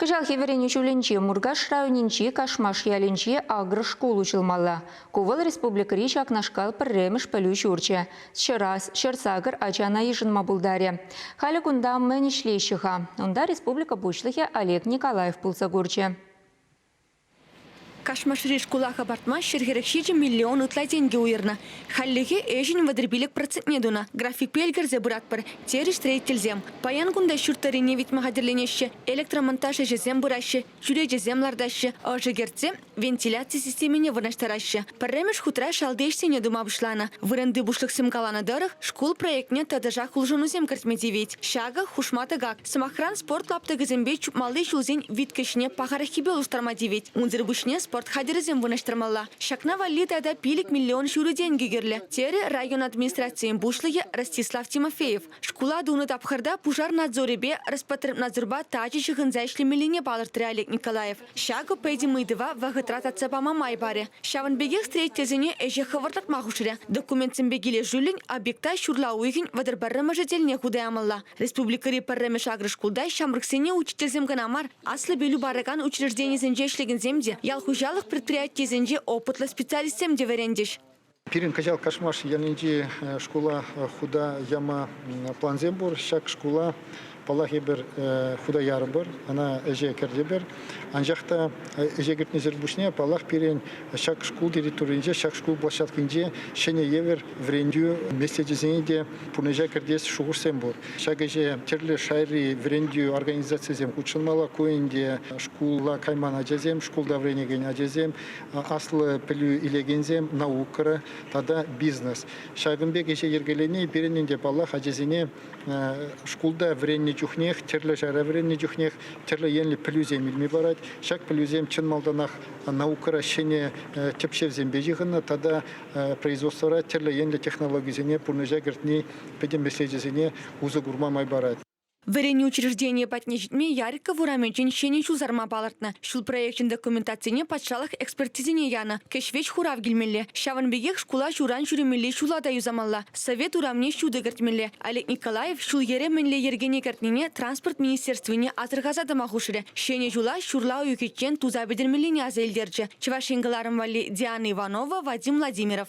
Кӑҫалхи вӗренӳ ҫулӗнче Муркаш районӗнчи Кашмаш ялӗнчи агро шкул уҫӑлмалла. Ку вӑл республикӑри ҫакнашкал пӗрремӗш пӗлӳ ҫурчӗ. Ҫӑрас, ҫӗрсакӑр ачана йышӑнма пултарӗ. Халӗ кунта мӗн ӗҫлеҫҫӗ-ха? Унта республика Пуҫлӑхӗ Олег Николаев пулса курчӗ. Кашмашри шкула хӑпартма ҫӗр-хӗрех ҫичӗ миллион ытла тенкӗ уйӑрнӑ. Хальлӗхе ӗҫӗн вӑтӑр-пилӗк процентне тунӑ. Графикпе ӗлкӗрсе пыратпӑр, терӗҫ строительсем. Паян кунта ҫурт тӑрине витме хатӗрленеҫҫӗ, электромонтаж ӗҫӗсем пыраҫҫӗ, чӳречесем лартаҫҫӗ, ӑшӑ кӗртсе вентиляци системине вырнаҫтараҫҫӗ. Пӗрремӗш хутра шалти ӗҫсене тума пуҫланӑ. Вырӑнти пуҫлӑхсем каланӑ тӑрӑх, шкул проектне тӑтӑшах улшӑнусем кӗртме тивет. Ҫакӑ хушма тӑкак. Сӑмахран, спорт лаптӑкӗсемпе чупмалли ҫулсен виткӗҫне пахараххипе улӑштарма тивет. Унсӑр пуҫне спорт хатӗрӗсем вырнаҫтармалла. Ҫакна валли тата пилӗк миллион ҫурӑ тенкӗ кирлӗ, терӗ район администрацийӗн пуҫлӑхӗ Ростислав Тимофеев. Шкула тунӑ тапхӑрта пушар надзорӗпе Роспотребнадзорпа тачӑ ҫыхӑнса ӗҫлемеллине палӑртрӗ Олег Николаев. Ҫакӑ пӗтӗм ыйтӑва вӑхӑтра татса пама май парӗ. Ҫавӑн пекех строительсене ӗҫе хӑвӑрт татма хушрӗ. Документсемпе килӗшӳллӗн объекта ҫурла уйӑхӗн вӑтӑр пӗрремӗшӗ тӗлне хута ямалла. Республикӑри пӗрремӗш агрошкулта ҫамрӑксене учительсем кӑна мар, аслӑ пӗлӳ паракан учрежденисенче ӗҫлекенсем те, ял хуҫалӑх предприятийӗсенче опытлӑ специалистсем те вӗрентӗҫ. Пирӗн кӑҫал Кашмаш ялӗнчи шкула хута яма плансем пур. Ҫак шкула, паллах, эпир хута ярӑпӑр, ӑна ӗҫе кӗртӗпӗр. Анчах та ӗҫе кӗртнисӗр пуҫне, паллах, пирӗн ҫак шкул территорийӗнче, ҫак шкул площадкинче ҫӗнӗ евӗр вӗрентӳ меслечӗсене те пурнӑҫа кӗртес шухӑшсем пур. Ҫак ӗҫе тӗрлӗ шайри вӗрентӳ организацийӗсем хутшӑнмалла. Ку ӗнтӗ шкула кайман ачасем, шкулта вӗренекен ачасем, Аслӑ пӗлӳ илекенсем наукӑра тата бизнес. Ҫакӑн пек ӗҫе йӗркелени пирӗн те, паллах, ачасене шкулта вӗреннӗ чухнех, тӗрлӗ ҫара вӗреннӗ чухнех тӗрлӗ енлӗ пӗлӳсем илме парать. Ҫак пӗлӳсем чӑн малтанах наукӑра ҫӗнӗ тӗпчевсемпе ҫыхӑннӑ тата производствӑра тӗрлӗ енлӗ технологисене пурнӑҫа кӗртни пӗтӗм меслечӗсене усӑ курма май парать. Вӗренӳ учрежденийӗ патне ҫитме Яриков урамӗнчен ҫӗнӗ ҫул сарма палӑртнӑ. Ҫул проекчӗн документацине патшалӑх экспертизине янӑ. Кӗҫ-вӗҫ хурав килмелле. Ҫавӑн пекех шкула ҫуран ҫӳремелли ҫула та юсамалла. Совет урамне ҫутӑ кӗртмелле. Олег Николаев ҫул-йӗре мӗнле йӗркене кӗртнине транспорт министерствине асӑрхаса тӑма хушрӗ. Ҫӗнӗ ҫула ҫурла уйӑхӗччен туса пӗтермеллине аса илтерчӗ Чӑваш Ен кӑларӑм валли Диана Иванова, Вадим Владимиров.